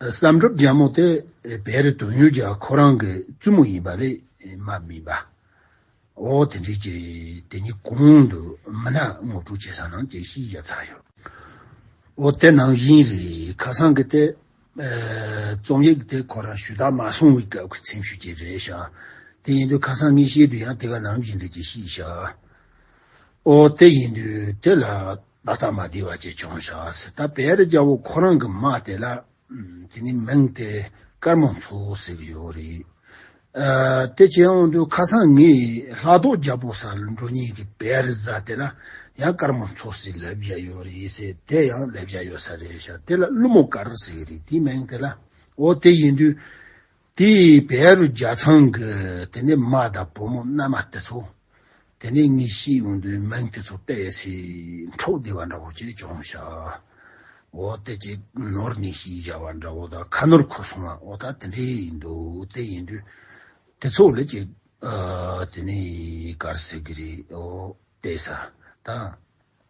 བསམ་གྲུབ་རྒྱ་མོ་དེ་བེ་རི་དོན་ཡོད་རྒྱ་ཁོ་རང་གི་བཙུན་མོ་ཡིན་པ་ལས་མ་མིན་པ། ཨོ་དེ་འདྲའི་ཀྱི་དེ་གཉིས་གོང་དུ་མི་ནག་ངོ་སྤྲོད་བྱེད་ས་ནང་ཀྱི་ཤེས་རྒྱ་ཚར་ཡོད། ཨོ་དེ་ནང་བཞིན་རེད་ཁ་སང་གི་དེ་རྩོམ་ཡིག་དེ་ཁོ་རང་ཞུ་དག་མ་སོང་བའི་སྐབས་ཀྱི་ཚིམ་ཤུགས་ཀྱི་རེད་ཤག་དེ་ཡིན་དུས་ཁ་སང་ངས་བཤད་དུས་ཡང་དེ་ག་ནང་བཞིན་རེད་ཀྱི་ཤེས་ཤག་ཨོ་དེ་ཡིན་དུས་དེ་ལ། ལ་དྭགས་མ་བདེ་བ་ཅེས་ཅུང་བྱ་བ་ཟེར་ད་བེ་རི་རྒྱལ་པོ་ཁོ་རང་གི་མ་དེ་ལ་དེ་ནི་མིང་དེ་དཀར་མོ་མཚོ་ཟེར་གྱི་ཡོད་རེད། དེ་བྱས་འོང་དུས་ཁ་སང་ངས་ལྷ་རྡོ་རྒྱལ་པོ་ས་ལུ་འགྲོ་ཉིན་གྱི་བེ་རི་བཟའ་དེ་ལ་ཡང་དཀར་མོ་མཚོ་ཟེར་ལབ་བཞག་ཡོད་རེད་ཟེར་དེ་ཡང་ལབ་བཞག་ཡོད་ས་རེད་བྱ་དེ་ལ་ཀླུ་མོ་དཀར་ཟེར་གྱི་རེད་དེའི་མིང་དེ་ལ་འོ་དེ་ཡིན་དུས་དེ་བས་རུ་རྒྱ་ཚང་གི་དེ་ནས་མ་དང་བུ་མོ་མནའ་མ་དེ་ཚོ་དེ་ནས་ངའི་ཤི་ཡོང་དུས་མིང་དེ་ཚོ་སྤེལ་བས་སི་འཕྲོག་བདེ་བ་འདྲ་བོ་ཅིག་བྱུང་ཤག་འོ་དེ་ཀྱི་ནོར་ནི་ཤི་བཞག་བ་འདྲ་བོ་དང་ཁ་ནོར་ཁུ་སོང་བ་འོ་ད་དེ་འདྲས་ཡིན་འདུག་དེ་ཡིན་དུས་དེ་ཚོ་ལས་ཀྱི་དེ་ནས་གར་ཟེར་གི་རེད་འོ་དེ་ས་དང།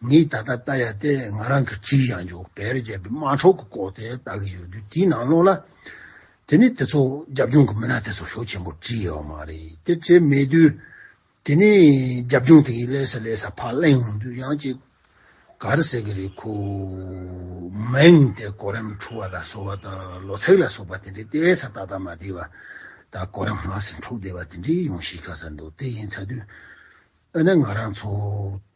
ངས་ད་ལྟ་བལྟ་ཡ་སྟེ་ང་རང་གི་བྲིས་ཡང་འཇུག་བལ་རྒྱབ་པའི་དམག་འཕྲོག་གི་སྐོར་དེ་བལྟ་གི་ཡོད་དུས་དེའི་ནང་ལོགས་ལ། དེ་ནི་དེ་ཚོ་རྒྱབ་ལྗོངས་ཀྱི་མི་སྣ་དེ་ཚོ་ཤོག་ཆེན་པོར་བྲིས་ཡོད་པ་མ་རེད་དེ་བྲིས་མེད་དུས། དེ་ནི་རྒྱབ་ལྗོངས་དེ་ཡི་ཀླད་སར་ཀླད་སར་ཕར་གླེང་འོང་དུས་ཡང་ཅིག། ག་རེ་ཟེར་གི་རེད་ཁུ། མིང་དེ་གོ་རིམ་འཁྲུག་བ་ལ་སོགས་པ་དང་ལོ་ཚེགས་ལ་སོགས་པ་དེ་འདྲའི་ལྟས་ས་ཏག་ཏག་མ་བྲིས་པ། ད་གོ་རིམ་སྔར་བཞིན་འཁྲུག་བསྡད་པ་དེ་འདྲའི་ཡོང་གཞིའི་ཁ་ས་འདུག་དེ་ཡིན་ཚ་དུས། ཨ་ནི་ང་རང་ཚོ།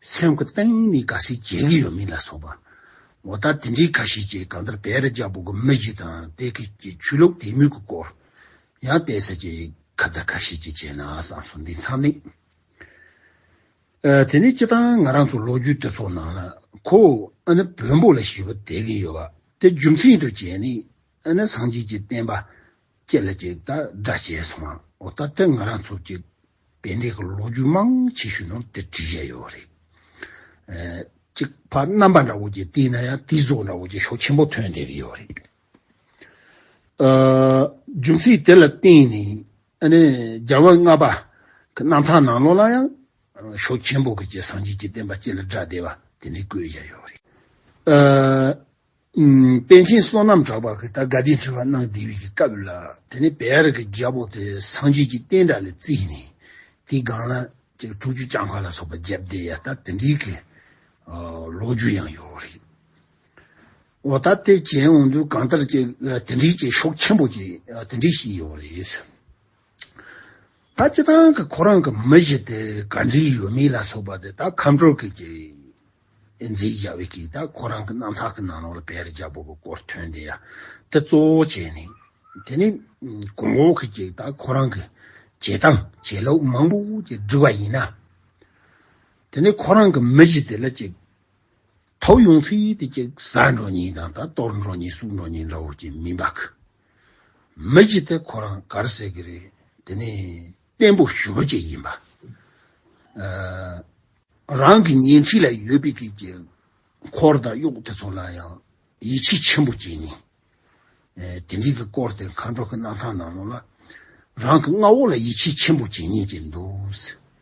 སེམས་ཀྱི་གཏིང་ནས་དགའ་སེ་བྱེད་ཀྱི་ཡོད་མིན་ལ་སོགས་པ། མོ་ད་དེ་འདྲའི་ཁ་ཤས་ཀྱིས་གང་ལྟར་བེ་རི་རྒྱལ་པོ་གི་མི་བཞི་དང་དེ་ཁུལ་གྱི་ཆོས་ལུགས་དད་མོས་ཀྱི་སྐོར་ཡང་བལྟས་ཟེར་གྱི་ཁ་བརྡ་ཁ་ཤས་ཀྱིས་བྱས་ན་བསམ་སོང་འདི་མཚམས་ནས། དེ་ནས་སྤྱི་བཏང་ང་རང་ཚོ་ལོ་རྒྱུས་དེ་ཚོ་ནང་ལ་ཁོ་ཨ་ནི་བོན་པོ་ལ་ཞི་བ་དད་ཀྱི་ཡོད་པ་དེ་རྒྱུ་མཚན་དུ་བྱས་ནས་ཨ་ནི་སངས་རྒྱས་ཀྱི་བསྟན་པ་ཅེས་ལ་ཅིག་ལྟར་སྒྲ་བྱས་སོང་ཨོ་ད་ལྟ་ང་རང་ཚོ་གཅིག་དཔེ་འདེགས་ཀྱི་ལོ་རྒྱུས་མང་ཆེ་ཤོས་ནང་དེ་བྲིས་བཞག་ཡོད་རེད། གཅིག་ཕ་རྣམ་པ་འདྲ་བོ་གཅིག་བསྟིས་ན་ཡང་དེའི་གཟུགས་འདྲ་བོ་གཅིག་ཤོག་ཆེན་པོ་ཐོན་བསྡད་ཀྱི་ཡོད་རེད། རྒྱུ་མཚན་དེ་ལ་བརྟེན་ནས་རྒྱལ་བོ་ལྔ་པ་གི་རྣམ་ཐར་ནང་ལོགས་ལ་ཡང་ཤོག་ཆེན་པོ་གཅིག་སངས་རྒྱས་ཀྱི་བསྟན་པ་ཅེས་ལ་སྒྲ་བཟླས་པ་དེ་འདྲས་བཀོད་བཞག་ཡོད་རེད། པཎ་ཆེན་བསོད་ནམས་གྲགས་པ་གིས་ད་དགའ་ལྡན་ཁྲི་བར་གནང་བསྡད་པའི་སྐབས་ལ་དེ་ནས་བེ་རི་ཀའི་རྒྱལ་པོ་དེ་སངས་རྒྱས་ཀྱི་བསྟན་དགྲ་ལ་བརྩིས་ནས་དེའི་སྒང་ལ་དྲུག་ཅུ་ལྕགས་མཁར་ལ་སོགས་པ་བརྒྱབ་བསྡད་ཡ་ད་དེ་འདྲའི་གི་ལོ་རྒྱུས་ཡང་ཡོད་རེད། འོ་ད་དེ་གྱེན་འོང་དུས་གང་ལྟར་གྱི་དེ་འདྲའི་གྱི་ཤོག་ཆེན་པོ་གྱི་དེ་འདྲའི་ཞིག་ཡོད་རེད། ད་སྤྱི་དང་གི་ཁོ་རང་གི་མི་གཞི་དེ་ག་འདྲི་ཡོད་མེད་ལ་སོགས་པ་དེ་ད་ཁམས་དྲོ་སྐད་ཀྱི་འཛིན་རྒྱ་བས་ཀྱི་ད་ཁོ་རང་གི་རྣམ་ཐག་གི་ནང་ལོག་ལ་བེ་རི་རྒྱ་བོ་གི་སྐོར་ཐོན་དེ་ཡ་དེ་གཙོ་བོ་བྱས་ནས་དེ་ནས་གོང་འོག་གི་ཀྱི་ད་ཁོ་རང་གི་བྱེད་སྟངས་བྱེད་ལོག་མང་པོ་ཀྱི་འདྲི་བ་ཡིན་ན་དེ་ནས་ཁོ་རང་གི་མི་གཞི་དེ་ལ་ཀྱི་ཐོབ་ཡོང་ཚུལ་དེ་ཀྱི་ཟ་འགྲོ་ཉིན་དང་ད་གཏོར་འགྲོ་ཉིན་བསུབ་འགྲོ་ཉིན་འདྲ་བོ་ཀྱི་མིན་པ་ཀི། མི་བྱེད་དེ་ཁོ་རང་གར་ཟེར་གི་རེད་དེ་ནས་བརྟན་པོ་ཞུ་རོ་བཅས་ཡིན་པ། རང་གི་ཉེ་འཁྲིས་ལ་ཡོད་པའི་གི་གི་འཁོར་དང་གཡོག་དེ་ཚོ་ལ་ཡང་ཡིད་ཆེས་ཆེན་པོ་བྱེད་ངེས། དེ་འདྲིའི་གི་སྐོར་དེ་མཁའ་འགྲོ་གི་གནང་ཐང་ནང་ལོ་ལ་རང་གི་མངའ་འོག་ལ་ཡིད་ཆེས་ཆེན་པོ་བྱེད་ངེས་ཀྱི་འདུག།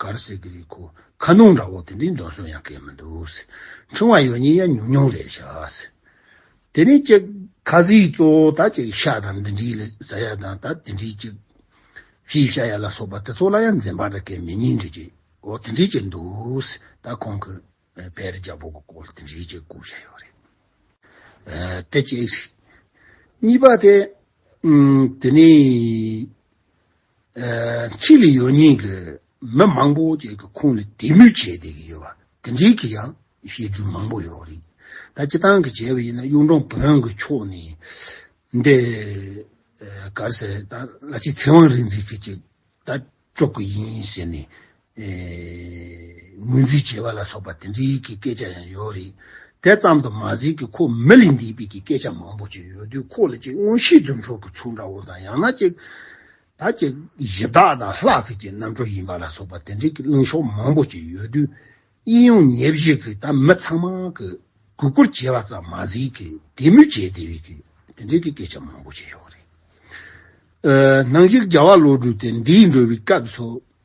གར་སེ་གི་རིགས་ཁོ་ཁ་ནོངས་འདྲ་བོ་དེ་འདྲའི་འདོད་གསོལ་ཡང་སྐད་མི་འདུག། འཕྲེང་བ་ཡོད་ཉིན་ཡ་ཉུང་ཉུང་རེད་ཤག། དེ་ནས་ཅིག། ཁ་ཟས་གཙོ་བོ་ད་ཅིག་ཤ་དང་འདི་འདྲའི་ཟ་ཡ་དང་ད་དེ་འདྲའི་ཅིག། ཤེས་བྱ་ཡ་ལ་སོགས་པ་དེ་ཚོ་ལ་ཡང་འཛེམ་བག་འདྲ་སྐད་མི་སྙན་འདྲ་ཅིག་གོ་དེ་འདྲའི་ཅིག་འདུག། ད་ཁོང་གི་བེ་རི་རྒྱ་བོ་གི་སྐོར་དེ་འདྲའི་ཅིག་གོ་བཤད་ཡོད་རེད་དེ་གཅིག། གཉིས་པ་དེ། དེ་ནས། ཕྱི་ལ་ཡོད་ཉེས་ཀྱི་མི་མང་པོ་བཅས་ཀྱི་ཁོངས་ལ་དད་མོས་བྱས་བསྡད་ཀྱི་ཡོད་པ་དེ་འདྲའི་གི་ཡང་བཤད་རྒྱུ་མང་པོ་ཡོད་རེད། ད་སྤྱི་བཏང་གི་བྱས་པ་ཡིན་ན་གཡུང་དྲུང་བོན་གྱི་ཕྱོགས་ནས་འདི་གར་ཟེར་ད་ལ་ཆེ་ཚེ་དབང་རིག་འཛིན་གྱིས་ཅིག་ད་སྐྱོབ་ཀྱི་ཡིན་ཟེར་ནས་ངོས་འཛིན་བྱེད་པ་ལ་སོགས་པ་དེ་འདྲའི་གི་སྐད་ཆ་ཡང་ཡོད་རེད། དེ་ཙམ་དུ་མ་ཟད་ཀི་ཁོ་མི་ལས་འདས་པའི་གི་སྐད་ཆ་མང་པོ་ཅིག་ཡོད་དུས་ཁོ་ལ་ཅིག་མངོན་ཤེས་རྫུན་འཕྲོག་གི་ཚུལ་འདྲ་བོ་དང་ཡང་ན་ཅིག་ད་ཅིག་གཞི་བདག་དང་ལྷ་གི་ཅིག་རྣམ་འཕྲོ་ཡིན་པ་ལ་སོགས་པ་དེ་འདྲའི་གི་གླེང་ཕྱོགས་མང་པོ་ཅིག་ཡོད་དུས་དབྱིན་ཡུང་ཉེ་བཞི་གི་ད་མི་ཚང་མ་གི་གུས་བཀུར་བྱེད་པ་ཙམ་མ་ཟད་གི་དད་མོས་བྱེད་བདེ་བའི་གི་དེ་འདྲའི་གི་སྐད་ཆ་མང་པོ་ཅིག་ཡོད་རེད། ནང་བཞིན་རྒྱལ་བ་བློ་གྲོས་དེ་འདས་འགྲོ་བའི་སྐབས་སུ།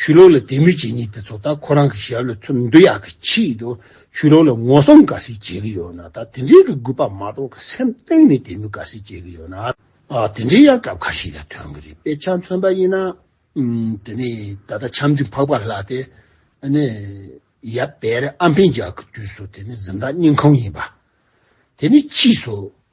ཆུ་ལོག་ལ་དད་མོས་བྱེད་མྱེད་དེ་ཚོ་ད་ཁོ་རང་གི་ཞབས་ལ་ཐུག་འདོད་ཡག་གི་ཆེད་དུ་ཆུ་ལོག་ལ་ངོ་སྲུང་ག་ཟིག་བྱེད་གི་ཡོད་ན་ད་དེ་འདྲའི་གི་རྒུད་པ་མ་གཏོགས་གི་སེམས་གཏིང་ནས་དད་མོས་ག་ཟིག་བྱེད་གི་ཡོད་ན། དེ་འདྲའི་ཡང་སྐབས་ཁ་ཞིག་ལ་ཐོན་གི་རེད་དཔེ་ཆ་མཚོན་པ་ཡིན་ན། དེ་ནས་ད་ལྟ་ཆམ་མཐུན་འཕགས་པ་ལགས་དེ་ནི་ཡབ་བེ་རི་ཨམ་ཕན་རྒྱག་གི་དུས་སུ་དེ་ནི་གཟིམ་བདག་སྙིང་ཁོང་ཡིན་པ་དེ་ནི་ཕྱིས་སུ་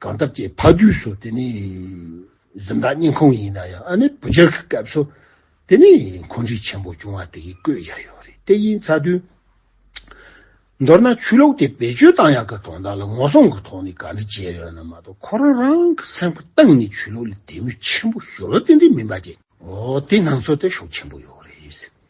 གང་ཐབས་ཅད་ཕ་དུས་སུ་དེ་ནི་གཟི་མདངས་སྙིང་ཁོང་ཡིན་ན་ཡང་ཨ་ནེ་བུ་རྒྱལ་གྱི་སྐབས་སུ་དེ་ནི་འཁོན་འཇིགས་ཆེན་པོ་བྱུང་བ་དེ་ཡིས་བསྐོས་བཞག་ཡོད་རེད་དེ་ཡིན་ཚ་དུས། མདོར་ན་ཆོས་ལུགས་དེ་བེད་སྤྱོད་བཏང་ཡག་གི་དོན་དག་ལ་ངོ་སྲུང་གི་ཐོག་ནས་ག་འདྲ་བྱས་ཡོད་ན་མ་གཏོགས་ཁོ་རང་རང་གི་སེམས་ཁུར་བཏང་ནས་ཆོས་ལུགས་ལ་དད་མོས་ཆེན་པོ་ཞུ་ལོ་ཏན་ཏན་མིན་པ་བཅས། འོ་དེ་སྣང་ཚོད་ལྟ་ཞོག་ཆེན་པོ་ཡོད་རེད།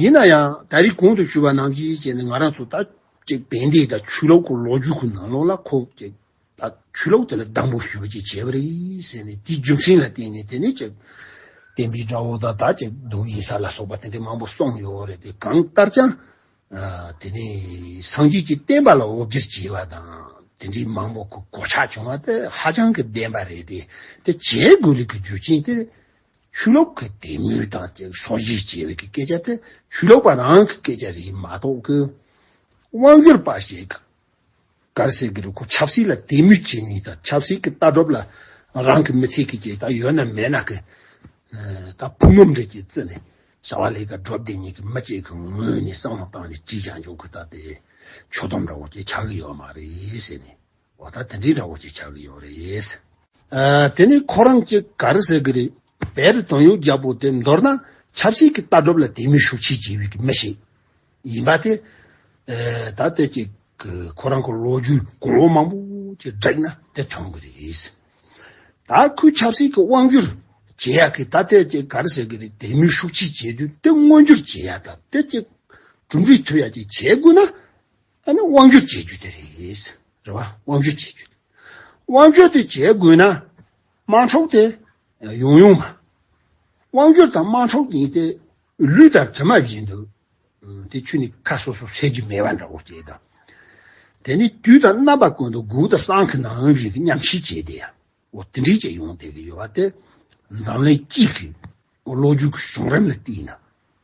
ཡིན་ན་ཡང་ད་རིས་གོང་དུ་ཞུས་པ་ནང་གི་ཅན་ནི་ང་རང་ཚོ་ད་ཅིག་བན་དེ་དང་ཆུ་ལོག་གི་ལོ་རྒྱུས་ཁུ་ནང་ལོག་ལ་ཁོ་ཅིག་ད་ཆུ་ལོག་དེ་ལ་སྡང་པོ་ཞུ་བ་ཅིག་བྱས་པ་རེད་ཟེར་ནས་དེའི་རྒྱུ་མཚན་ལ་བརྟེན་ནས་དེ་ནས་ཅིག་བསྟན་པའི་དགྲ་བོ་དང་ད་ཅིག་སྡུག་ཡིན་ས་ལ་སོགས་པ་དེ་འདྲའི་མང་པོ་སོང་ཡོད་རེད་དེ་གང་ལྟར་ཀྱང་དེ་ནས་སངས་རྒྱས་ཀྱི་བསྟན་པ་ལ་དབུ་བརྒྱར་བྱས་པ་དང་དེ་འདྲའི་མང་པོ་གི་གོ་ཆ་བྱུང་བ་དེ་ཧ་ཅང་གི་བདེན་པ་རེད་དེ་དེ་བྱེད་དགོས་ལུགས་ཀྱི་རྒྱུ་རྐྱེན་དེ། ཆུ་ལོག་གི་དད་མོས་དང་བཅས་པའི་སོ་བཞི་ཅེས་པའི་སྐད་ཆ་དེ་ཆུ་ལོག་པ་རང་གི་སྐད་ཆ་རེད་མ་གཏོགས་ཀི། དབང་སྒྱུར་པ་ཞིག་གིས་གར་སེར་གྱི་རུ་ཁོག་ཆབ་སྲིད་ལ་དད་མོས་བྱེད་ནུས་དང་ཆབ་སྲིད་ཀྱི་ལྟ་གྲུབ་ལ་རང་གི་མི་ཚེ་གི་བྱེད་སྟངས་ཡོད་ན་མེད་ན་ཀི། ད་ཕུ་ནུ་འདྲེ་ཀྱི་རྩི་ནས་བྱ་བ་ལས་ཀ་སྒྲུབ་བདེ་ཉིད་ཀྱི་མི་གཅིག་གི་ངོས་ནས་བསམ་བློ་བཏང་ནས་དྲིས་ཀྱང་འཇོག་གི་ད་དེ། ཆོ་འདོམས་ར་བོ་ཅེས་ཆགས་ཀྱི་ཡོད་མ་རེད་ཟེར་ནས། འོ་ད་དེ་འདྲའི་འདྲ་བོ་ཅིག་ཆགས་ཀྱི་ཡོད་རེད། དེ་ནི་ཁོ་རང་གཅིག་ག་རེ་ཟེར་གྱི་རེད། བེ་རི་དོན་ཡོད་རྒྱལ་པོ་དེ་མདོར་ན་ཆབ་སྲིད་ཀྱི་ལྟ་གྲུབ་ལ་དད་མོས་ཤུགས་ཆེ་བྱེད་ཡུལ་གྱི་མི་ཞིག་ཡིན་པ་དེ། ད་ལྟའི་ཀྱི་ཁོ་རང་གི་ལོ་རྒྱུས་གོང་འོག་མང་པོ་ཅིག་བསྒྲིགས་ན་དེ་ཐོན་གྱི་རེད། ད་ཁོའི་ཆབ་སྲིད་ཀྱི་དབང་བསྒྱུར་བྱེད་ཡག་གི་ད་ལྟའི་ཀྱི་ག་རེ་ཟེར་གྱི་རེད་དད་མོས་ཤུགས་ཆེ་བྱེད་དུས་དེ་མངོན་འགྱུར་བྱེད་ཡག་ད་ལྟའི་ཀྱི་གྲུབ་འབྲས་ཐོབ་ཡག་ཅིག་བྱེད་དགོས་ན། ཨ་ནི་དབང་བསྒྱུར་བྱེད་རྒྱུ་དེ་རེད། རེད་བ། དབང་བསྒྱུར་བྱེད་རྒྱུ། དབང་བསྒྱུར་དེ་བྱེད་དགོས་ན། དམངས་ཁྲོག་དེ། ཡོང་ཡོང་མ། དབང་བསྒྱུར་དང་དམངས་ཁྲོག་གཉིས་དེ། ལུས་དང་གྲིབ་མ་བཞིན་དུ། དེ་ཆུ་ནི་ཁ་སོ་སོར་ཟད་རྒྱུ་མེད་པ་འདྲ་བོ་སྐྱེས་དང། དེ་ནི་དུས་དང་རྣམ་པ་ཀུན་ཏུ་འགུགས་དང་སྲང་གི་ནང་བཞིན་གྱི་མཉམ་བཞི་བྱས་དེ། འོ་དེ་འདྲིས་བྱས་ཡོང་བསྡད་ཀྱི་ཡོད་པ་དེ། འཛམ་གླིང་སྤྱི་གི། ལོ་རྒྱུས་ཀྱི་གཞུང་རིམ་ལ་བལྟས་ན།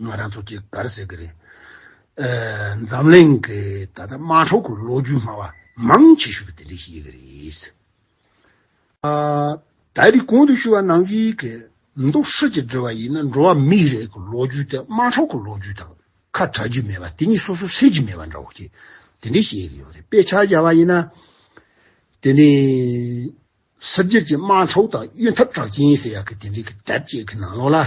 ང་རང་ཚོ་གཅིག་དགར་ཟེར་གི་རེད། འཛམ་གླིང་གི་ད་ལྟ་དམར་ཧྲོག་གི་ལོ་རྒྱུས་སྨྲ་བ་མང་ཆེ་ཤོས་ཀྱི་དེ་འདྲའི་ཞིག་ཡིན་གྱི་རེད། ད་རིག་གོང་དུ་ཞུས་བ་ནང་བཞིན་གྱི་འདུག་ཧྲིལ་གྱིས་འབྲི་བ་ཡིན་ན་འགྲོ་བ་མིའི་རིགས་ཀྱི་ལོ་རྒྱུས་དེ་དམར་ཧྲོག་གི་ལོ་རྒྱུས་དང་ཁ་གྲག་རྒྱུ་མེད་པ་དེ་གཉིས་སོ་སོ་ཟེར་གྱི་མེད་པ་འདྲ་བོ་ཞིག་དེ་འདྲའི་ཞིག་ཡིན་གྱི་ཡོད་རེད་དཔེ་ཆ་བཞག་པ་ཡིན་ན། དེ་ནི་སིབ་རྒྱལ་གྱི་དམར་ཧྲོག་དང་གཡོན་འཐབ་གྲགས་ཅན་ཟེར་ཡག་གི་དེ་འདྲའི་གི་དེབ་ཅིག་གི་ནང་ལོགས་ལ།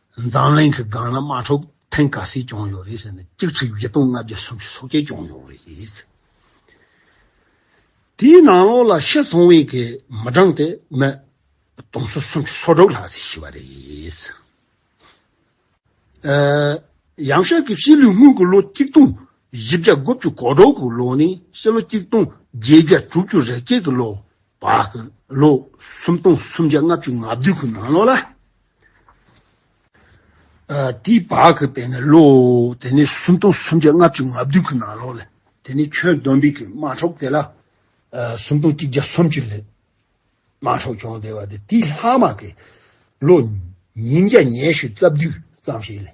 འཛམ་གླིང་གི་སྒང་ལ་དམག་འཁྲུག་ཐེངས་ག་ཟིག་བྱུང་ཡོད་རེད་ཟེར་ནས་གཅིག་ཁྲི་བརྒྱད་སྟོང་ལྔ་བརྒྱ་སུམ་ཅུ་སོ་བརྒྱད་བྱུང་ཡོད་རེད། དེའི་ནང་ལོགས་ལ་ཤི་སོང་བའི་གི་མི་གྲངས་དེ་མི་སྟོང་ཚོ་སུམ་ཅུ་སོ་དྲུག་ལྷག་ཟིག་ཤི་བ་རེད། ཡང་ཤར་གྱི་ཕྱི་ལུས་དངུལ་གྱི་ལོ་གཅིག་སྟོང་བཞི་བརྒྱ་དགུ་བཅུ་གོ་དྲུག་གི་ལོ་ནས་ཕྱི་ལོ་གཅིག་སྟོང་བརྒྱད་བརྒྱ་དྲུག་ཅུ་རེ་བརྒྱད་གི་ལོ་བར་གྱི་ལོ་སུམ་སྟོང་སུམ་བརྒྱ་ལྔ་བཅུ་ང་བདུན་གི་ནང་ལོགས་ལ་དེའི་བར་གྱི་བས་ནི་བློ། དེ་ནས་སུམ་སྟོང་སུམ་བརྒྱ་ལྔ་བཅུ་ང་བདུན་གྱི་ནང་ལོགས་ལས། དེ་ནས་ཆོས་བསྡོམས་པས་ཀྱི་དམག་འཕྲོག་དེ་ལ། སུམ་སྟོང་གཅིག་བརྒྱ་སུམ་བཅུ་ལས། དམག་འཕྲོག་བྱུང་བདེ་བ་དེ་དེའི་ལྷག་མ་ཀྱི། བློ། ཉིན་བརྒྱ་ཉེས་བཤུས་རྩ་བདུན་ཙམ་ཞིག་ལས།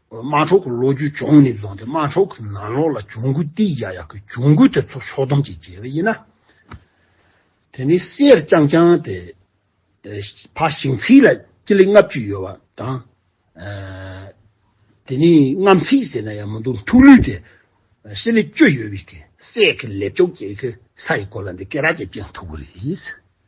དམག་འཁྲུག་གི་ལོ་རྒྱུས་ཅུང་ནས་བཟང་སྟེ་དམག་འཁྲུག་གི་ནང་ལོགས་ལ་གྱོང་གུད་སྟེ་ཡ་ཡག་གི་གྱོང་གུད་དེ་ཚོ་ཕྱོགས་བསྡོམས་ཀྱིས་བརྗེ་བས་ཡིན། དེ་ནི་གསེར་རྐྱང་རྐྱང་དེ། ཕ་ཞིང་ཚིགས་ལ་སྤྱི་ལེ་ལྔ་བཅུ་ཡོད་པ་དང། དེ་ནི་རྔམ་ཚིགས་ཟེར་ན་ཡང་མི་འདུག་མཐུག་ལུས་དེ། སྤྱི་ལེ་བཅུ་ཡོད་པའི་གསེར་གྱི་ལེབ་ཅོག་ཅིག་གི་ས་ཡི་སྐོར་ལ་འདི་སྐེ་རགས་ཀྱི་སྤྱན་མཐུག་པོ་རེད།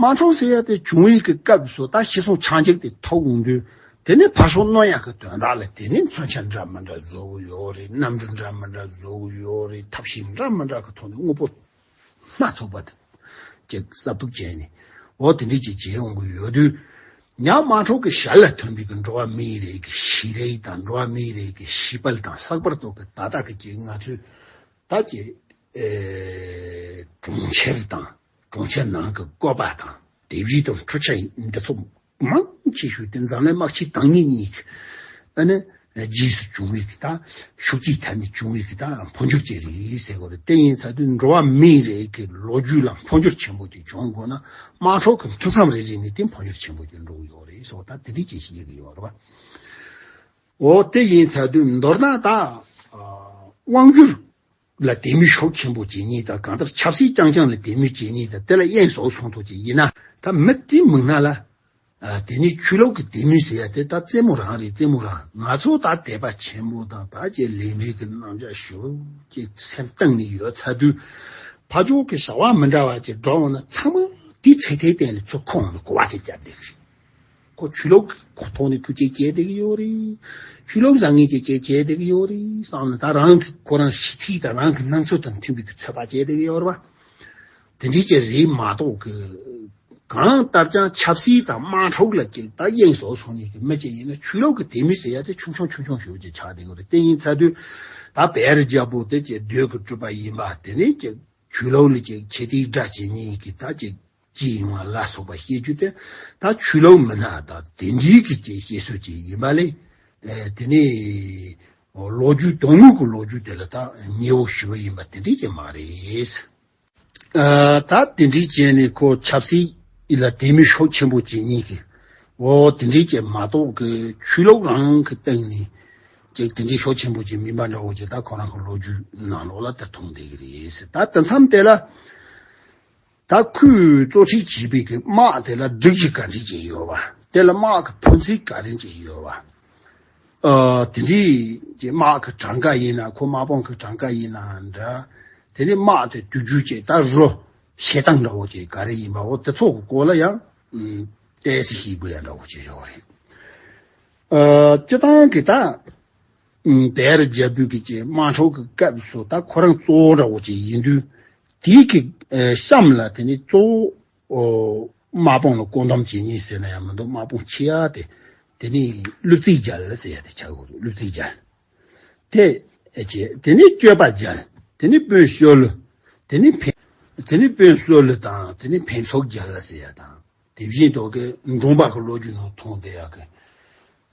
དམངས་གྲོང་སེ་ཡ་དེ་བྱུང་ཡིག་གི་སྐབས་སུ་ད་ཤི་སོང་ཆང་འཇིག་དེ་ཐོག་འོང་དུས་དེ་ནི་ཕ་ཤོང་རྣོ་ཡག་གི་དོན་དག་ལ་དེ་ནི་མཚོན་ཆ་འདྲ་མི་འདྲ་བཟོ་གི་ཡོད་རེད་གནམ་གྲུ་འདྲ་མི་འདྲ་བཟོ་གི་ཡོད་རེད་ཐབས་ཤེས་འདྲ་མི་འདྲ་གི་ཐོག་ནས་དངོས་པོ་སྣ་ཚོགས་པ་དེ་ཀྱི་གསབ་ཐུབ་བྱས་ནས་འོ་དེ་འདྲས་ཀྱི་བྱས་འོང་གི་ཡོད་དུས་ཉག་དམངས་གྲོང་གི་ཞར་ལ་ཐོན་པའི་གི་འགྲོ་བ་མིའི་རིགས་ཀྱི་ཤི་རེས་དང་འགྲོ་བ་མིའི་རིགས་ཀྱི་ཤི་དཔལ་དང་ལྷག་པར་དུ་གི་ད་ལྟ་གི་ཀྱི་ང་ཚོའི་ད་ཀྱི་གྲོང་ཁྱེར་དང། གྲོང་ཁྱེར་ནང་གི་བཀོད་པ་དང་དེབ་གཞི་དང་འཕྲུལ་ཆ་འདི་ཚོ་མང་ཆེ་ཤོས་དེ་འཛམ་གླིང་དམག་ཆེན་དང་གཉིས་གཉིས་ཀྱི་ནི་རྗེས་སུ་བྱུང་བའི་གི་དང་ཤུགས་ཀྱིས་ཐ་མི་བྱུང་བའི་གི་དང་འཕོ་འགྱུར་ཅིག་རེད་ཟེར་དགོས་རེད་དེ་ཡིན་ཚ་དུས་འགྲོ་བ་མིའི་རིགས་ཀྱི་ལོ་རྒྱུས་ལ་འཕོ་འགྱུར་ཆེན་པོ་ཅིག་བྱུང་དགོས་ན་དམག་འཁྲུག་གི་འཐུས་མཚམས་རེ་རེ་ནས་དེ་འཕོ་འགྱུར་ཆེན་པོ་ཅིག་འགྲོ་གི་ཡོད་རེད་སོགས་ད་དེ་འདྲའི་ཅིག་ཞིག་ཡི་གི་ཡོད་རེད་བ། འོ་དེ་ཡིན་ཚ་དུས་མདོར་ན་ད་དབང་བསྒྱུར་ལ་དད་མོས་ཤོག་ཆེན་པོ་རྗེ་ཉིད་དང་གང་ལྟར་ཆབ་སྲིད་རྐྱང་རྐྱང་ལ་དད་མོས་རྗེ་ཉིད་དང་དེ་ལ་དབྱེན་ཟོག་གསུང་ཐོག་ཅིག་ཡིན་ན། ད་མི་དེའི་མིང་སྣ་ལ། དེ་ནས་ཆོས་ལོག་གི་དད་མོས་ཟེར་ཡ་དེ་ད་རྩེད་མོ་རང་རེད་རྩེད་མོ་རང་ང་ཚོ་ད་དད་པ་ཆེན་པོ་དང་ད་ཅེས་ལས་མེད་ཀྱི་སྣང་ཆ་ཞུ་ཅེས་སེམས་གཏིང་ནས་ཡོད་ཚ་དུས་ཕ་ཇོ་གི་བྱ་བ་མི་འདྲ་བ་ཅིག་འགྲོ་འོང་ན་ཚང་མ་དེའི་ཚེ་དེའི་སྟེང་ལ་ཚུར་ཁོང་ནས་གོ་བ་ཅིག་བརྒྱབ་བསྡད་ཀྱི་རེད། ཁོ་ཆོས་ལུགས་ཀྱི་ཐོག་ནས་ཁྱོད་སྐད་རྒྱལ་བསྡད་ཀྱི་ཡོད་རེད། ཆོས་ལུགས་རང་ངོས་ཀྱི་སྐད་རྒྱལ་བསྡད་ཀྱི་ཡོད་རེད་བསམ་ནས་ད་རང་གི་ཁོ་རང་གཞི་ཚིག་དང་རང་གི་སྣང་ཚུལ་དང་མཐུན་པའི་དུས་ཚོད་པ་བྱས་བསྡད་ཀྱི་ཡོད་རེད་པ། དེ་འདྲའི་ཅི་རེད་མ་གཏོགས་ཀྱི། གང་ལྟར་ཀྱང་ཆབ་སྲིད་དང་དམངས་ཁྲོད་ལ་སྐད་བརྡ་གཡེང་བཟོ་བཟོ་ནས་ཀྱི་མི་གཅིག་ཡིན་ན་ཆོས་ལུགས་ཀྱི་དད་མོས་ཟེར་ཡ་དེ་ཆུང་ཆུང་ཆུང་ཆུང་ཞིག་ཅིག་ཆགས་བསྡད་ཀྱི་རེད་དེ་ཡིན་ཚད་དུས་ད་བེ་རི་རྒྱལ་པོ་དེ་ཀྱི་རྡོས་ཀྱི་གྲུབ་པ་ཡིན་པ་དེ་ནས་ཀྱི་ཆོས་ལུགས་ལ་ཀྱི་ཁྱེད་དེའི་སྒྲ་བྱེད་ཉིན་ཀྱི་ད་ཀྱི། ཅི་ཡིན་བ་ལ་སོགས་པ་བཤད་རྒྱུ་དེ་དག་ཆོས་ལུགས་མི་སྣ་དང་དེ་འབྲེལ་གྱི་ཅིག་བཤད་སྲོལ་ཅིག་ཡིན་པ་ལས། དེ་ནི་ལོ་རྒྱུས་དོན་དངོས་ཀྱི་ལོ་རྒྱུས་དེ་ལ་དག་ཉེས་བོ་ཞུ་བ་ཡིན་པ་དེ་འདྲས་ཀྱང་མ་རེད། ད་དེ་འདྲས་བྱས་ནས་ཁོ་ཆབ་སྲིད་ལ་དད་མོས་ཤོག་ཆེན་པོ་བྱེད་ཉེས་ཀྱི་འོ་དེ་འདྲས་བྱས་མ་གཏོགས་ཀྱི་ཆོས་ལུགས་རང་གི་སྟེང་ནས་ཅིག་དེ་འདྲས་ཤོག་ཆེན་པོ་བྱས་མིན་པ་འདྲ་བོ་ཅིག་དག་ཁོ་རང་གི་ལོ་རྒྱུས་ནང་ལོགས་ལ་དག་མཐོང་བསྡད་ཀྱི་རེད། ད་དེ་མཚམས་དེ་ལ། ད་ཁོས་གཙོ་ཁྲིད་བྱས་པའི་གི་དམག་དེ་ལ་སྒྲིག་གཞི་ག་རེ་ཅིག་ཡོད་བ། དེ་ལ་དམག་གི་ཕུན་ཚིགས་ག་རེ་ཅིག་ཡོད་བ། དེ་འདྲའི་དམག་གི་གྲངས་ཀ་ཡིན་ན་ཁོ་དམག་དཔུང་གི་གྲངས་ཀ་ཡིན་ན་འདྲ། དེ་ནས་དམག་དེ་བསྡུ་རྒྱུ་བཅས་ད་རུ་བྱེད་སྟངས་འདྲ་བོ་ཅིག་ག་རེ་ཡིན་པ་འོ་དེ་ཚོ་གི་སྐོར་ལ་ཡང་བལྟས་ཚེ་ཤེས་དགོས་ཡ་འདྲ་བོ་ཅིག་ཡོད་རེད། སྤྱི་བཏང་གི་ད་དེར་རྒྱལ་བོད་ཀྱི་བཅས་དམག་འཕྲོག་གི་སྐབས་སུ་ད་ཁོ་རང་གཙོ་བོ་འདྲ་བོ་ཅིག་ཡིན་དུས། དེའི་གི་གཤམ་ལ་དེ་ནི་གཙོ་བོ་དམག་དཔུང་ལ་བཀོད་འདོམས་བྱེད་ངེས་ཟེར་ན་ཡང་མི་འདུག་དམག་དཔུང་ཆེ་ཡ་དེ་དེ་ནི་གླུ་རྩིས་རྒྱལ་ཟེར་ཡ་དེ་ཆགས་ཡོད་འདུག་གླུ་རྩིས་རྒྱལ་དེ་བྱེད་དེ་ནི་སྤྱོད་པ་རྒྱལ་དེ་ནི་དཔོན་བསོད་ལུ་དེ་ནི་འཕན། དེ་ནི་དཔོན་བསོད་ལུ་དང་དེ་ནི་འཕན་ཚོགས་རྒྱལ་ཟེར་ཡ་དང་དེ་བཞིན་དུ་གི་འབྲོང་པ་གི་ལོ་རྒྱུས་ནང་མཐོང་བསྡད་ཡ་གི།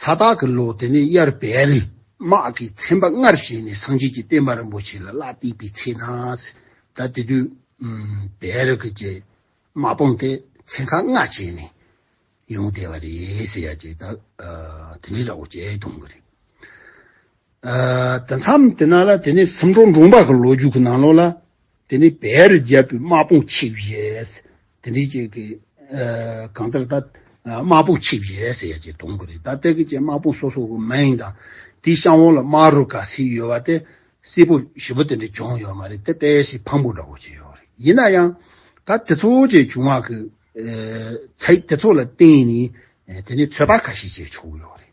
ས་བདག་གི་ལོ་དེ་ནས་དབྱར་བལ་དམག་གིས་མཚན་པ་སྔར་བཞིན་ནས་སངས་རྒྱས་ཀྱི་བསྟན་པ་རིན་པོ་ཆེ་ལ་གླ་བཏེགས་པའི་ཚེ་ན། ད་དེ་དུས་བལ་རི་ཁུལ་གྱི་དམག་དཔུང་དེ་ཚན་ཁག་ལྔ་བྱས་ནས་ཡོང་བསྡད་པ་རེད་ཟེར་ཡ་ཅེས་ད་དེ་འདྲའི་ར་བོ་ཅལ་གྱོང་གི་རེད། དེ་མཚམས་དེ་ན་ལ་དེ་ནས་སུམ་གྲོ་འབྲོང་པ་གི་ལོ་རྒྱུས་ཀྱི་ནང་ལོགས་ལ་དེ་ནས་བེ་རི་རྒྱལ་པོའི་དམག་དཔུང་ཆིབས་བཞེས་དེ་འདྲའི་ཅེས་ཀྱི་གང་ལྟར་ད་དམག་དཔུང་ཆིབས་བཞེས་ཟེར་ཡ་ཅེས་གཏོང་གི་རེད་ད་ལྟ་ཀྱི་ཅེས་དམག་དཔུང་སོ་སོ་གི་མིང་དང་དེའི་གཤམ་འོག་ལ་དམག་རུ་ག་ཟིག་ཡོད་པ་དེ་སེར་པོ་བཞི་པོ་དེ་འདྲ་བྱུང་ཡོད་མ་རེད་དེ་དཔེ་ཞིག་ཕངས་པོ་འདྲ་བོ་བྱས་ཡོད་རེད་ཡིན་ན་ཡང་ད་དེ་ཚོ་ཅེས་བྱུང་བ་གི་ཚེ་དེ་ཚོ་ལ་བརྟེན་ནས་དེ་ནས་ཚོད་དཔག་ག་ཤེད་བྱས་ཆོག་གི་ཡོད་རེད།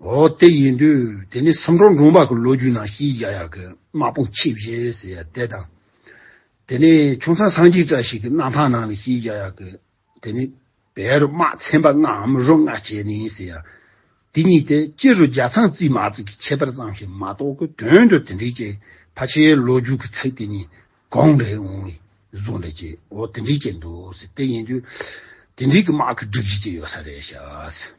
འོ་དེ་ཡིན་དུས་དེ་ནི་བསམ་འགྲོ་འབྲོང་པ་གི་ལོ་རྒྱུས་ནང་ཤི་ཡ་ཡ་གི་དམག་དཔུང་ཆེས་བཞེས་ཟེར་ཡ་དེ་དང། དེ་ནི་ཆུང་ཚང་སངས་ཅིག་བཀྲ་ཤིས་གི་གནང་ཐང་ནང་ལ་ཤི་ཡ་ཡ་གི་དེ་ནི་བལ་རུ་དམག་ཚན་པ་ལྔའམ་རུ་ལྔ་བྱས་ནས་ཟེར་ཡ་དེ་གཉིས་དེ་སྤྱི་རུ་རྒྱ་ཚང་རྩིས་མ་རྩིས་གི་ཁྱད་པར་ཙམ་ཞིག་མ་གཏོགས་གི་དོན་དུ་དེ་འདྲའི་ཅན་ཕ་ཆེའི་ལོ་རྒྱུས་གི་ཚིག་དེ་གཉིས་གང་རེད་འོང་བའི་བཟོ་འདྲ་ཅི་འོ་དེ་འདྲའི་ཅན་འདུག་ཟེར་དེ་ཡིན་དུས་དེ་འདྲའི་གི་དམག་གི་སྒྲིག་གཞི་ཅི་ཡོད་ས་རེད་ཤག་ཟེར།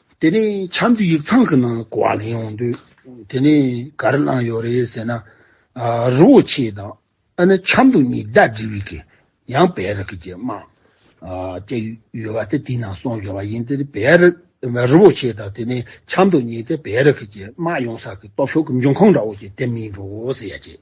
དེ་ནས་བྱམས་ཀྱི་ཡིག་ཚང་གི་ནང་ལ་གོ་བ་ལེན་ཡོང་དུས་དེ་ནས་ག་རེ་གནང་ཡོད་རེད་ཟེར་ན། རི་བོ་ཆེ་དང་ཨ་ནེ་བྱམས་དུ་ཉིག་ཟླ་འབྲི་བའི་གི་ཡང་བེ་རི་གི་ཀྱི་དམངས་སྐད་ཡོད་པ་དེ་དེའི་ནང་སོང་ཡོད་པ་ཡིན་དེ་ནས་བེ་རི་རི་བོ་ཆེ་དང་དེ་ནས་བྱམས་དུ་ཉིག་ཟླ་བེ་རི་གི་ཀྱི་དམངས་ཡོང་ས་གི་སྟོབས་ཤོག་གི་འབྱུང་ཁུངས་འདྲ་བོ་ཀྱི་དེ་མིན་འགྲོ་ཟེར་ཡ་ཅེས།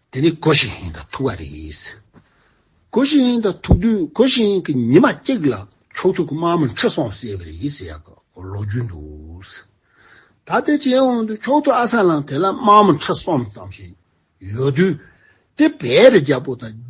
དེ་ནི་གོ་ཞིང་ཧིན་དང་ཐུག་བ་རེད། གོ་ཞིང་ཧིན་དང་ཐུག་དུས་གོ་ཞིང་ཧིན་གྱི་ཉི་མ་གཅིག་ལ་ཕྱོགས་ཐུག་གི་དམག་མི་འཁྲིད་སོང་ཟེར་བ་རེད་ཟེར་ཡག་གི་ལོ་རྒྱུས་འདུག། ད་ལྟའི་རྗེས་དབང་དུ་ཕྱོགས་ཐུག་ཨ་ས་ལང་དེ་ལ་དམག་མི་འཁྲིད་སོང་ཙམ་ཞིག་ཡོད་དུས་དེ་བས་རྒྱ་པོ་དང།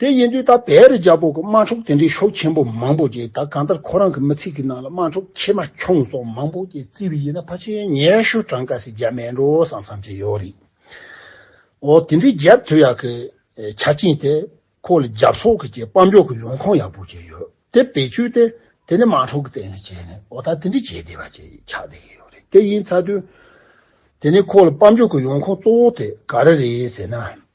དེ་ཡིན་དུས་ད་བེ་རི་རྒྱ་པོ་གི་དམག་འཁྲུག་དེ་འདྲའི་ཤོག་ཆེན་པོ་མང་པོ་རྗེས་ད་གང་ལྟར་ཁོ་རང་གི་མི་ཚིག་གི་ནང་ལ་དམག་འཁྲུག་ཁྱེད་མ་ཁྱོང་སོགས་མང་པོ་རྗེས་བརྩི་བའི་ཡིན་ན་ཕ་ཆེན་ཉེ་ཤུ་གྲངས་ཀ་ཞིག་རྒྱ་མེད་འགྲོ་བསམ་བསམ་གྱི་ཡོད་རེད། འོ་དེ་འདྲའི་རྒྱབ་དོད་ཡག་གི་ཆ་རྐྱེན་དེ་ཁོ་ལ་རྒྱབ་སོག་གི་རྗེས་དཔའ་མགྱོགས་གི་ཡོང་ཁུངས་ཡག་པོ་ཅིག་ཡོད་དེ་བེད་སྤྱོད་དེ་དེ་ནི་དམག་འཁྲུག་གི་སྟེང་ལ་བྱས་ནས་འོ་ད་དེ་འདྲའི་བྱེད་བདེ་བ་ཅིག་ཆགས་བསྡད་ཀྱི་ཡོད་རེད་དེ་ཡིན་ཚ་དུས་དེ་ནི་ཁོ་ལ་དཔའ་མགྱོགས་གི་ཡོང་ཁུངས་གཙོ་བོ་དེ་ག་རེ་རེད་ཟེར་ན་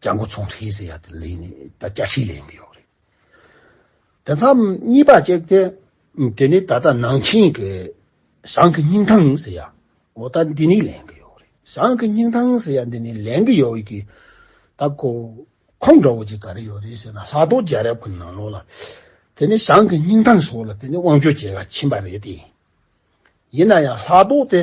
རྒྱ་མགོ་ཚོང་ཁྲི་ཟེར་ཡག་དེ་ལས་ནི་ད་བརྒྱ་ཁྲི་ལས་ཡིན་ཡོག་རེད། དེ་མཚམས་གཉིས་པ་གཅིག་དེ་དེ་ནི་ད་ལྟ་ནང་ཆེན་གི་ཞང་གི་སྙིང་ཐང་ཟེར་ཡག་གོ་ད་འདི་ནི་ལེན་གི་ཡོག་རེད་ཞང་གི་སྙིང་ཐང་ཟེར་ཡག་འདི་ནི་ལེན་གི་ཡོག་གི་ད་གོ་ཁོང་འདྲ་བོ་ཅིག་ག་རེ་ཡོག་རེད་ཟེར་ན་ལྷག་རྡོ་རྒྱལ་རབས་ཀི་ནང་ལོག་ལ་དེ་ནི་ཞང་གི་སྙིང་ཐང་ཟོག་ལ་དེ་ནི་དབང་ཆོས་རྒྱལ་ཁ་ཕྱིན་པ་རེད་དེ་ཡིན་ན་ཡང་ལྷག་རྡོ་དེ།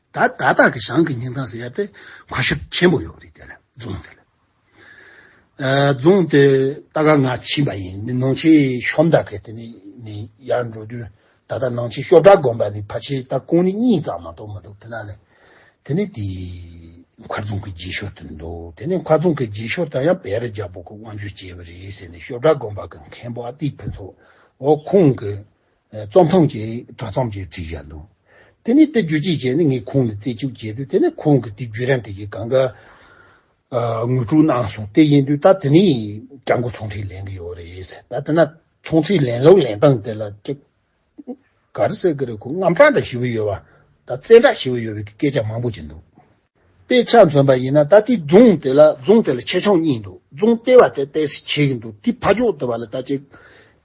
ད་ད་ལྟ་གི་ཞང་གི་ཉིན་ཐང་ཟེར་ཡ་དེ་གོ་ཞིབ་ཆེན་པོ་ཡོད་རེད་དེ་ལ་རྫོང་དེ་ལ། རྫོང་དེ་ད་ལྟ་ང་ཕྱིན་པ་ཡིན་ནི་ནང་ཆེན་ཤོམ་བདག་གི་དེ་ནི་ནི་ཡར་འགྲོ་དུས་ད་ལྟ་ནང་ཆེན་ཤོབ་བྲག་དགོན་པ་ནི་ཕ་ཆེན་ད་ཀོང་ནི་གཉིས་ཙམ་མ་གཏོགས་མི་འདུག་དེ་ན་ལེ། དེ་ནི་དེ་མཁར་རྫོང་གི་རྗེས་ཤོར་དུ་འདུག་དེ་ནི་མཁར་རྫོང་གི་རྗེས་ཤོར་ད་ཡང་བེ་རི་རྒྱལ་པོ་གི་དབང་ཆོས་སྐྱེས་པ་རེད་ཟེར་ནི་ཤོབ་བྲག་དགོན་པ་གི་མཁན་པོ་ཨ་ཏི་ཕུན་ཚོགས་འོ་ཁོང་གི་རྩོམ་ཐང་གི་དྲ་ཚོམས་ཀྱིས་བསྒྲིགས་ཡ་འདུག་དེ་ནས་དེ་བརྒྱུད་ཅིག་བྱས་ནས་ངས་ཁོང་ལ་རྩེ་གཅུགས་བྱས་དུས་དེ་ནས་ཁོང་གིས་དེ་བརྒྱུད་རིམ་དེ་གའི་གང་གཱའི་ངོས་དྲུག་གནང་སོང་དེ་ཡིན་དུས་ད་དེ་ནས་སྐྱབས་མགོན་ཚོང་ཁྲིའི་ལན་གི་ཡོད་རེད་ཟེར་ད་དེ་ན་ཚོང་ཁྲིའི་ལན་ལོག་ལན་སྟངས་དེ་ལ་ཀྱི་ག་རེ་ཟེར་གི་རེད་ཁོ་རྔམ་སྐྲག་འདྲ་ཞི་བོ་ཡོད་བ་ད་བཙན་སྐྲག་ཞི་བོ་ཡོད་བའི་སྐད་ཆ་མང་པོ་བྱས་འདུག། དཔེ་ཆ་མཚོན་པ་ཡིན་ན་ད་དེ་རྫོང་དེ་ལ་རྫོང་དེ་ལ་ཆེ་ཆུང་གཉིས་འདུག་རྫོང་ལྟེ་བ་དེ་དཔེ་སི་བྱེད་ཀྱི་འདུག་དེ་ཕ་ཅོག་ལྟེ་བ་ལ་ད་ཅེ་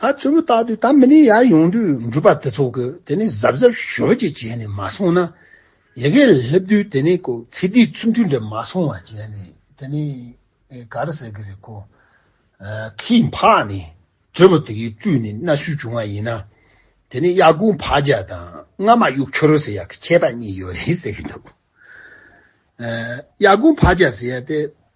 ད་ཚོད་མི་རྟག་དུས་ད་མི་ནི་ཡར་ཡོང་དུས་འགྲུལ་པ་དེ་ཚོ་གིས་དེ་ནི་གཟབ་གཟབ་ཞོར་གྱིས་བྱས་ནས་མ་སོང་ན། ཡི་གེ་སླེབས་དུས་དེ་ནི་ཀོ་ཚེ་སྡིག་ཚུལ་མཐུན་འདྲེས་མ་སོང་བ་བྱས་ནས་དེ་ནི་ག་རེ་ཟེར་གི་རེད་ཀོ། ཁྱི་འཕགས་ནི་དྲེད་མོ་དེ་གའི་སྤྲུལ་ནས་གནའ་ཤུལ་བྱུང་བ་ཡིན་ན། དེ་ནི་གཡག་ཀུན་འཕགས་རྒྱལ་དང་རྔ་མ་དབྱུག་ཆོལ་ཟེར་ཡག་གི་ཁྱད་པ་གཉིས་ཡོད་རེད་ཟེར་གི་འདུག་གཡག་ཀུན་འཕགས་རྒྱལ་ཟེར་ཡག་དེ་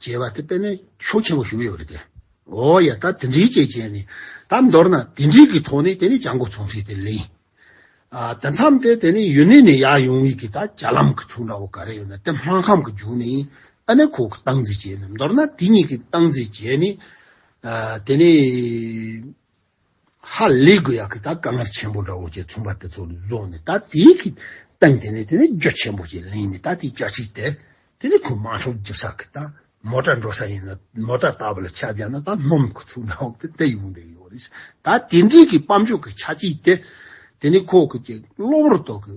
ཅེས་པ་དེ་དཔེར་ན་ཤུགས་ཆེན་པོ་ཞུགས་ཡོད་རེད་དེ། འོ་ཡ་ད་དེ་འདྲའི་ཅེས་བྱས་ནས་ད་མདོར་ན་དེ་འདྲའི་གི་ཐོག་ནས་དེ་ནི་བྱ་འགོ་ཚུགས་ཚུལ་དེ་ལེན། ཨ་དེ་མཚམས་དེ་དེ་ནི་ཡུན་ནན་ནས་ཡར་ཡོང་བའི་གི་ད་བྱ་ལམ་གི་ཚུགས་འདྲ་བོ་ག་རེ་ཡོད་ན་དེ་སྨར་ཁམས་གི་རྒྱུག་ནས་ཨ་ནེ་ཁོ་གི་སྟངས་འཛིན་བྱས་ནས་མདོར་ན་དེ་གཉིས་གི་སྟངས་འཛིན་བྱས་ནས་དེ་ནི། ཧ་ལས་དགོས་ཡག་གི་ད་དཀའ་ངལ་ཆེན་པོ་འདྲ་བོ་བྱས་ཚུམ་པ་དེ་ཚོ་རྫོགས་ནས་ད་དེའི་གི་སྟེང་དེ་ནས་དེ་ནས་རྒྱུ་ཆེན་པོ་ཞིག་ལེན་ནས་ད་དེའི་བསྐྱར་ཕྱིས་དེ་དེ་ནས་ཁོ་མང་ཤོག་རྒྱབ་ས་གི་ད་མོ་ཏྲ་འགྲོ་ས་ཡིན་ན་མོ་ཏྲ་ལྟ་བུ་ལ་ཆ་བཞག་ན་ད་སྣོམ་གི་ཚུགས་འདྲ་བོ་དེ་དེ་ཡོང་འདོད་ཡོད་རེད་ད་དེ་འདྲའི་གི་སྤམ་ཆུ་གི་ཆ་གཅིག་དེ་དེ་ནས་ཁོ་གི་ཀྱི་གློ་བུར་དོ་གི།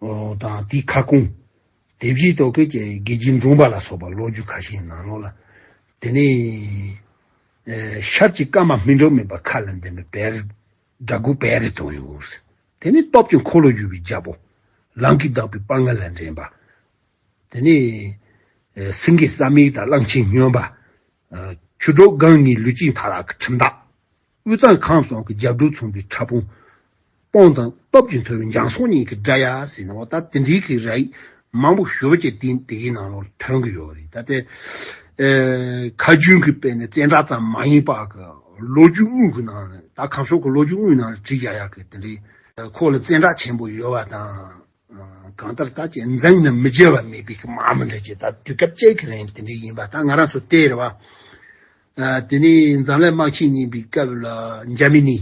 དང་དེའི་ཁ་སྐོང། དེ་བཞིན་དུ་ཁྱེད་ཀྱི་དགེ་སྦྱིན་འབྲོང་པ་ལ་སོགས་པ་ལོ་རྒྱུས་ཁ་ཤས་ནང་ལོགས་ལ། དེ་ནས། ཤར་གྱི་བཀའ་མ་སྨིན་གྲོགས་མེད་པ་མཁའ་ལ་འདེམས་པའི་བེར། དགྲ་དགུ་བེར་རེ་དོན་ཡོད། དེ་ནས་སྟོབས་ཀྱི་འཁོར་ལོ་བཞུ་བའི་རྒྱལ་པོ། ལང་ཀི་བདག་པོའི་དཔའ་ངར་ལ་འགྲན་པ། དེ་ནས། སེང་གེ་ས་མིག་དང་གླང་ཆེན་སྨྱོན་པ། ཁྱུ་འབྲོག་སྒང་གཉིས་ལུས་གཅིག་མཐའ་རག་གི་ཁྲིམས་བདག། དབུས་གཙང་ཁམས་སོགས་ཀྱི་རྒྱབ་གྲུ་མཚུངས་པའི་ཕྲ་ཕུང། སྤོང་དང་སྟོབས་ཀྱིས་མཐོ་བའི་འཇང་སོགས་གཉིས་ཀྱི་སྒྲ་ཡག་ཟེར་ནའོ་ད་དེ་འདྲའི་གི་ར་ཡིག་མང་པོ་ཞོལ་གྱི་སྟེང་དེ་གའི་ནང་ལོར་ཐོན་གྱི་ཡོད་རེད་ད་ལྟའི་ཁ་རྒྱུན་གྱི་དཔེ་ནི་བཙན་དྲག་ཙམ་མ་ཡིན་པར་གི་ལོ་རྒྱུས་དངོས་ཀྱི་ནང་ནས་ད་གམ་ཤོག་གི་ལོ་རྒྱུས་དངོས་ནང་ལ་བྲིས་ཡག་ཡག་གི་དེ་འདྲའི། ཁོག་ལ་བཙན་དྲག་ཆེན་པོ་ཡོད་བ་དང། གང་ལྟར་ད་ཅི་འཛིན་ནི་མི་བརྗེད་བ་མེད་པའི་ཀྱི་མ་མི་འདྲ་ཅི་ད་དུས་སྐབས་བཅད་ཀྱི་རིང་དེ་འདྲའི་ཡིན་པ་ད་ང་རང་ཚོ་ལྟས་རེད་བ། དེ་ནས་འཛམ་གླས་དམག་ཆེན་གཉིས་པའི་སྐབས་ལ་འཇར་མི་ནི་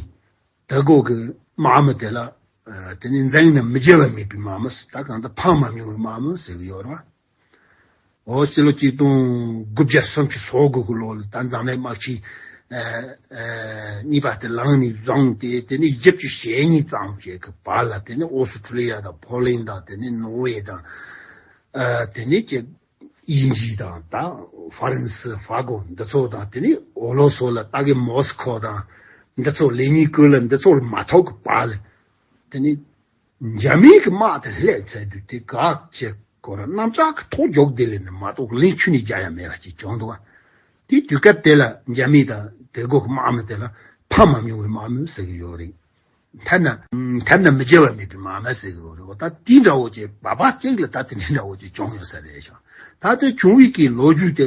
ད་གོ་གི་མ་མི་དེ་ལ་དེ་ནས་འཛིན་ནི་མི་བརྗེད་བ་མེད་པའི་མ་མི་ཟེར་ད་གང་ལྟར་ཕངས་མ་མྱོང་བའི་མ་མི་ཟེར་གྱི་ཡོད་རེད་བ། ཨོ་སི་ལོ་གཅིག་སྟོང་དགུ་བརྒྱ་སུམ་ཅུ་སོ་དགུ་དགུ་ལོ་ལ་ད་མཛངས་མའི་དམག་ཆིངས་གཉིས་པ་དེ་ལངས་ནས་བརྫངས་ཏེ་དེ་ནི་དབྱིབས་ཀྱི་ཞལ་གཉིས་ཙམ་ཞིག་གི་བར་ལ་དེ་ནི་ཨོ་སི་ཁྲུ་ལི་ཡ་དང་ཕོ་ལིན་དང་དེ་ནི་ནོར་ཝེ་དང་དེ་ནི་ཀྱེ་དབྱིན་ཇི་དང་ད་ཧྥ་རན་སི་ཧྥ་གོ་འདི་ཚོ་དང་དེ་ནི་ཨོ་ལོ་སོ་ལ་ད་གི་མོ་སི་ཁོ་དང་འདི་ཚོ་ལེ་ཉིན་ཀུ་ལི་འདི་ཚོ་ལ་མ་ཐོག་གི་བར་ལ་དེ་ནི། འཇར་མན་གྱི་དམག་དེ་ལྷས་བཙལ་དུས་དེ་ག་ཅེས་བསྐོར་ར་གནམ་ལྕགས་ཀྱི་ཐོག་འཇོག་དེ་ལས་ནི་མ་གཏོགས་ལན་ཆུ་ནི་བརྒྱ་ཡང་མེད་པ་ཅིག་བྱུང་འདུག་དེའི་དུས་སྐབས་དེ་ལ་འཇར་མན་དང་དེ་གོ་གི་དམག་མི་དེ་ལ་ཕམ་མ་མྱོང་བའི་དམག་མི་ཟེར་གྱི་ཡོད་རེད། མཐར་ན། མཐར་ན་མི་བརྗེ་བ་མེད་པའི་དམག་མི་ཟེར་གྱི་ཡོད་རེད་བ་ད་དེ་འདྲ་བོ་ཅིག་བ་བ་ཅིག་ལ་ད་དེ་འདྲ་བོ་ཅིག་བྱུང་ཡོད་ས་རེད་བྱུང་ད་དེ་བྱུང་བའི་གི་ལོ་རྒྱུས་དེ་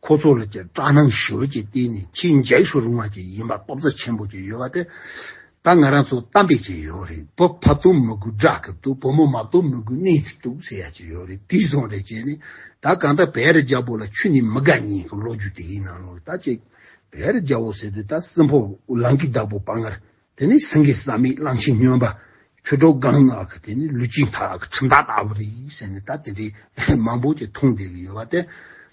ཁོ་ཚོ་ལ་ཀྱང་སྐྲག་སྣང་ཞོར་གྱིས་བལྟས་ནས་ཁྱི་འཇལ་ཞོར་རུང་བ་ཅིག་ཡིན་པར་སྟོབས་རྩལ་ཆེན་པོ་ཅིག་ཡོད་པ་དེ། ད་ང་རང་ཚོ་གཏམ་དཔེ་ཅིག་ཡོད་རེད་བུ་ཕ་བསྟུན་མི་དགོས་སྦྲག་གི་འདུག་བུ་མོ་མ་བསྟུན་མི་དགོས་གནས་གི་འདུག་ཟེར་ཡ་ཅིག་ཡོད་རེད་དེ་བཟུང་རེ་བྱས་ནས་ད་གང་ལྟར་བེ་རི་རྒྱལ་པོ་ལ་ཁྱོད་ནི་མི་དགའ་ཉེས་ཀྱི་ལོ་རྒྱུས་དེ་གའི་ནང་ལོ་ད་ཅིག་བེ་རི་རྒྱལ་བོ་ཟེར་དུས་ད་སྲིན་ཕོ་ལང་ཀི་བདག་པོ་དཔའ་ངར་དེ་ནི་སྲིན་ཀི་ཟག་མེད་གླང་ཆེན་སྨྱོན་པ་ཁྱོད་ཁྲོ་སྒང་ནག་གི་དེ་ནི་ལུས་ཅིང་ཐག་གི་ཁྲིམས་བདག་ལྟ་བུ་རེད་ཟེར་ནས་ད་དེ་འདྲའི་མང་པོ་ཅིག་འཐུང་བསྡད་ཀྱི་ཡོད་པ་དེ།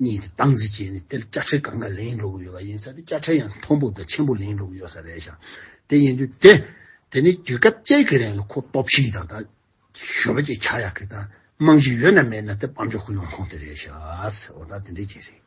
གཉིས་ཀྱི་སྟངས་འཛིན་བྱས་ནས་དེར་དཔྱ་ཁྲལ་གང་འགའ་ལེན་འགྲོ་གི་ཡོད་པ་ཡིན་ས་དེ་དཔྱ་ཁྲལ་ཡང་མཐོན་པོ་དང་ཆེན་པོ་ལེན་འགྲོ་གི་ཡོད་ས་རེད་ཞང་དེ་ཡིན་དུས་དེ་དེ་ནས་དུས་སྐབས་བཅས་ཀྱི་རིང་ལ་ཁོ་སྟོབས་ཤིག་དང་དང། ཞོལ་བ་ཅིག་ཆགས་ཡག་གི་དང་རྨང་གཞི་ཡོད་ན་མེད་ན་དེ་སྤམ་ཆོག་གི་ཡོང་ཁོངས་དེ་རེད་ཞག་འོ་ད་དེ་འདྲའི་རྐྱེན་རེད།